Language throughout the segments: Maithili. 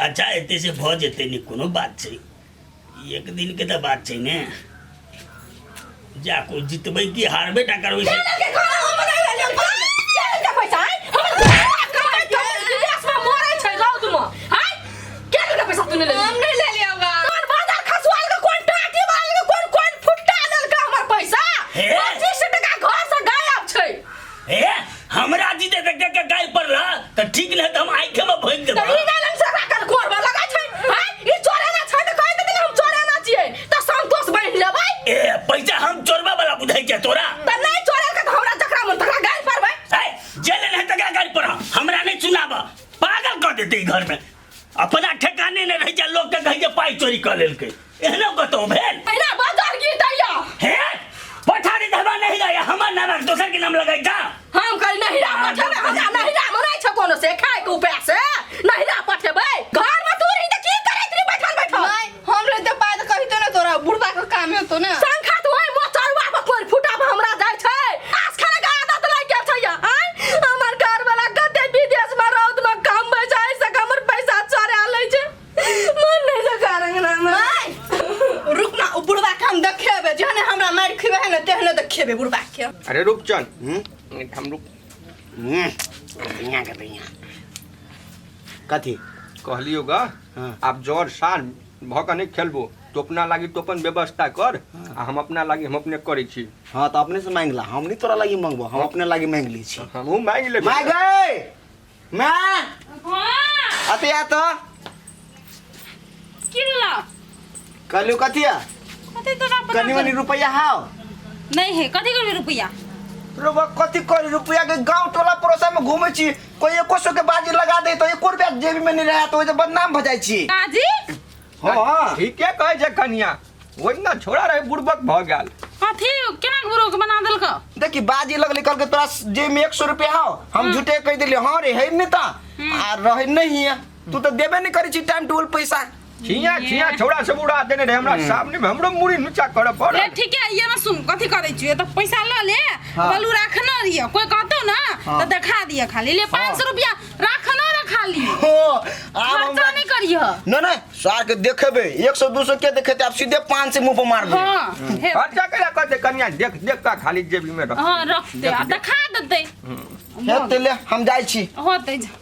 अच्छा एते से भऽ जेतै ने कोनो बात छै ई एक दिन के तऽ बात छै ने जा कोइ जितबै कि हारबे टा करबै से हम नहीं ले लिया होगा हे ए हमरा जी दे देख के गाय पर ला त ठीक न त हम आंखे में भोज देब त ई गालन से राखल कोर में लगा छै हाय ई चोरे ना छै त कहि देथिन हम चोरे ना छियै त संतोष बनि लेबै ए पैसा हम चोरबा वाला बुझाई के तोरा त नहीं चोरे के त हमरा जकरा मन तकरा गाय परबै ए जेल न तकरा गाय पर हमरा नहीं सुनाब पागल कर देते ई घर में अपना ठेकाने नहि रहै छै लोकके कहै छै पाइ चोरी कऽ लेलकै एहनो कतहु भेल एना बदल की दैया हे पठारी धबा नहि रहैए हमर नामक दोसर के नाम लगै जा हम कल नहिरा पठेबै हमरा नहिरा मे नहि छै कोनो से खाय के उपाय से नहिरा पठेबै घर में तू रही त की करैत रही बैठल बैठल हम रे जब बात कहितो ना तोरा बुढ़बा के काम हेतो ना संखा तो ओए मोचरवा पर पर फुटा पर हमरा जाय छै आस खाने का आदत लाग गेल छै या आय हमर घर वाला कते विदेश में रौद में काम में जाय से हमर पैसा चोरा लै छै मन नै लगा रंगना में माय रुक ना ओ बुढ़बा के हम देखेबे जहने हमरा मार खिबे है ना तेहने देखेबे बुढ़बा के अरे रुक चल हम्म, हम रुक हम्म, बढ़िया के बढ़िया कथी कहलियो गा हँ। आब जर साल भऽ कऽ नहि खेलबो तो अपना लागी तो अपन व्यवस्था कर हँ। आ हम अपना लागी हम अपने करै छी हाँ तो अपने से मांग ला हम नहीं तोरा लगी मांगबो हम अपने लगी मांग ली छी हमहूँ मांगि लेबै माय गए माय हाँ अते आ तो की भेलौ कहलू कथिया कथी तो ना कनी पता मनी रुपया हाव नहीं है कथी करबे रुपया रुपया कथी करी रुपया के गांव टोला पड़ोसा में घूमे छी कोई एको सौ के बाजी लगा दे तो एको रुपया जेबी में नहीं रहा तो ओजे बदनाम भ जाय छी काजी हां ठीके कहै छै कनिया ओहिना छोड़ा रहे बुड़बक भऽ गेल कथी केना गुरु के बना देलक देखी बाजी लगली कहलके तोरा जेब में एक सौ रुपया हाव हम झूठे कह देली हां रे है नहीं ता आ रहे नहीं है तू तो देबे नहीं करी छी टाइम टूल पैसा छिया छिया छौड़ा सब उड़ा देने रहे हमरा सामने में हमरो मुड़ी नुचा करे पड़ ए ठीक है ये ना सुन कथी करे छी त पैसा ल ले हाँ। बोलू राखना रियो कोई कहतो ना हाँ। तो देखा दिया खाली ले 500 रुपया राखना रे खाली हो आब खर्चा हमरा नहीं करियो ना ना सार के देखेबे 100 200 के देखेते आप सीधे 5 से मुंह पर मार दे हां हे खर्चा करा कर दे कन्या देख देख का खाली जेबी में रख हां रख दे आ देखा देते हे तेले हम जाई छी होते जा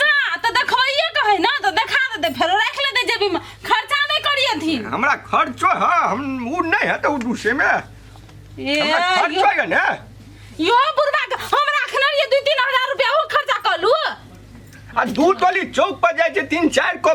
जा तऽ देखबैए के है ना तऽ देखा देते फेरो राख लेते जेबी में खर्चा नहीं करिए थी हमरा खर्चो है हम उ नहीं है तो उ दूसरे में ए, हमरा यो- खर्चो है ना यो बुढ़वा के हम राखने रहिए दू तीन हजार रुपया वो खर्चा कर लू आ दू टोली चौक पर जाए छै तीन चार को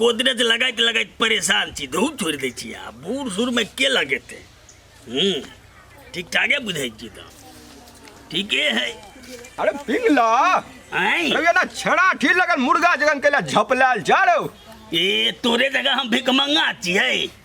गोदरेज लगाइत लगाइत परेशान छी धूप छोड़ि दै छी आ बूढ़ सूढ़मे के लगेतै हूँ ठीक ठाके बुझै छी तऽ ठीके है अरे पिंगला आँय अरे ना छड़ा ठी लगल मुर्गा जगन कैला झपलाल जा रहो ए तोरे जगह हम भिकमंगा छियै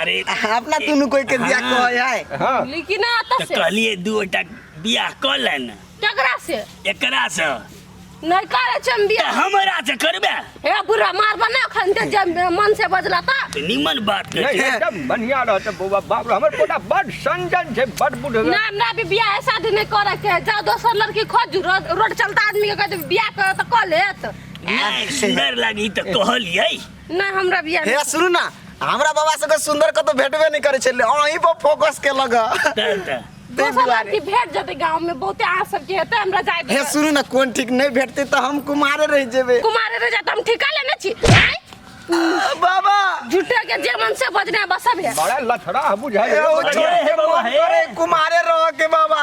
अरे अपना दुनू कोई के बियाह हाँ। कहै है हाँ लेकिन आता तो से कहलिए दू गोटा बियाह कऽ ले ने केकरा से एकरा से नहीं करे छे हम तऽ बियाह हमरा से करबे हे बुरा मार बना खन दे जब मन से बजला ता तऽ निमन बात नहीं कहै एकदम बढ़िया रहत बौआ बाप रे हमर पोता बड संजन छै बड बुढ़ ना हमरा भी बियाह ऐसा दिन नहीं करे के जा दोसर लड़की खोज रोड रोड चलता आदमी के कहते बियाह करे तो कह लेत नहि सुन्दर लागी तऽ कहलियै ना हमरा बियाह हे सुनू ना हमरा बाबा से कोई सुंदर कतो भेटबे नहीं करे छले अहीं पर फोकस के लगा दोसर लड़की भेट जेतै गांव में बहुते आ सबके हेतै हमरा जाय हे सुनू ना कोन ठीक नहीं भेटते तो हम कुमारे रह जेबे कुमारे रह जात हम ठिका लेने छी आय? बाबा झूठे के जे मन से बजना बसब है बड़ा लथड़ा बुझाए एगो छोड़ के मन करे कुमारे रह के बाबा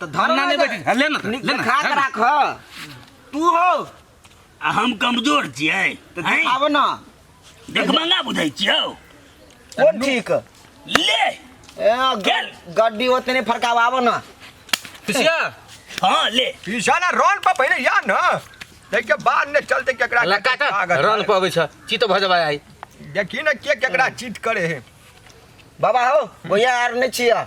तो धर अन्ना नहीं बैठी हाँ, ले ना तो, ले ना खा के राख तू हो आ हम कमजोर छियै तो हैं? देखाबो ना देखमंगा बुझै छियौ ओ ठीक ले ए, गेल। ग- गड्डी ओतने फरकावाबो ना पिसिया हाँ ले पीछा ना रोल पर पहले या ना देखिए बाद में चलते केकरा के लका का कागज रन पर अबै छ चित भ जबा आई देखी ना के केकरा चीट करे है बाबा हो भैया आर नहीं छिया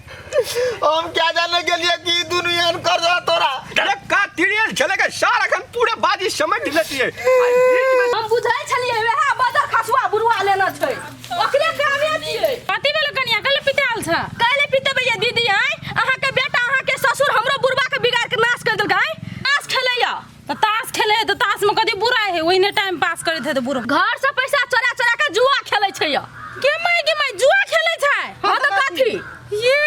हम क्या जाने के लिए कि दुनिया में कर रहा तोरा अरे का तिरियल छले के सारा खन पूरे बाजी समझ लेती है आई बीच में हम बुझै छलिए वएह बदर खसुआ बुरुआ लेना छै ओकरे कामे छियै कथी भेल कनिया कल पिताल छ काले पिते भैया दीदी आय अहाँ के बेटा अहाँ के ससुर हमरो बुढ़वा के बिगाड़ के नाश कर देलकै आय आस खेलैया तो ताश खेले है तो ताश में कथी बुरा है ओहिने टाइम पास करे थे तो बुरा घर से पैसा चोरा चोरा के जुआ खेले छै या के माय के माय जुआ खेले छै हां तो कथी ये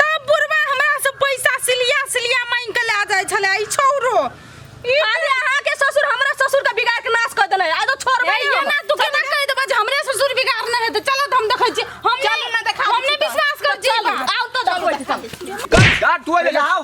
तब बुरबा हमरा से पैसा सिलिया सिलिया मांग के ला जाय छले ई छौरो अरे अहाँ के ससुर हमरा ससुर के बिगाड़ के नाश कर देले आ तो छोड़ भाई ये ना तू केना कह देबा जे हमरे ससुर बिगाड़ न हेते चलो हम देखै छी हम चल ना देखा हमने विश्वास कर छी आउ तो देखबै छी कट कट तू ले जाओ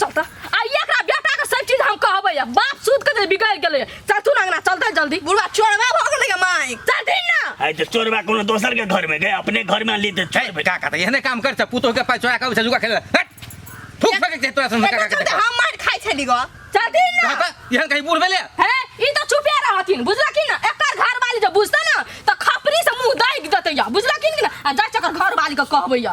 चल त आ ई एकरा बेटा के सब चीज हम कहबै या बाप सूद के जे बिगड़ गेलै चल तू अंगना चल त जल्दी बुढ़वा चोरवा भ गेलै गे माय चल दिन ना आइ त चोरबा कोनो दोसर के घर में गए अपने घर में ली त छै चोर का कहता एहने काम कर पुतोह के पास चोरा के उठा जुगा खेल हट थूक फेंक दे तोरा संग का एकर चलते कहता हम मार खाइ छली ग चल दिन ना कहता एहन कहीं बूढ़ भेले हे ई त चुपे रहथिन बुझला कि ना एकर घर वाली जे बुझता ना त खपरी से मुंह दाग देतै या बुझला कि ना आ जा चकर घर वाली के कहबै या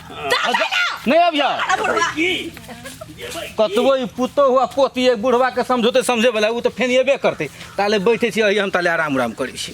नहीं अब जा कतबो ई पुतो हुआ पोती एक बुढ़वा के समझौते समझे वाला उ तो फेन एबे करते ताले बैठे छी अही हम ताले आराम उराम करै छी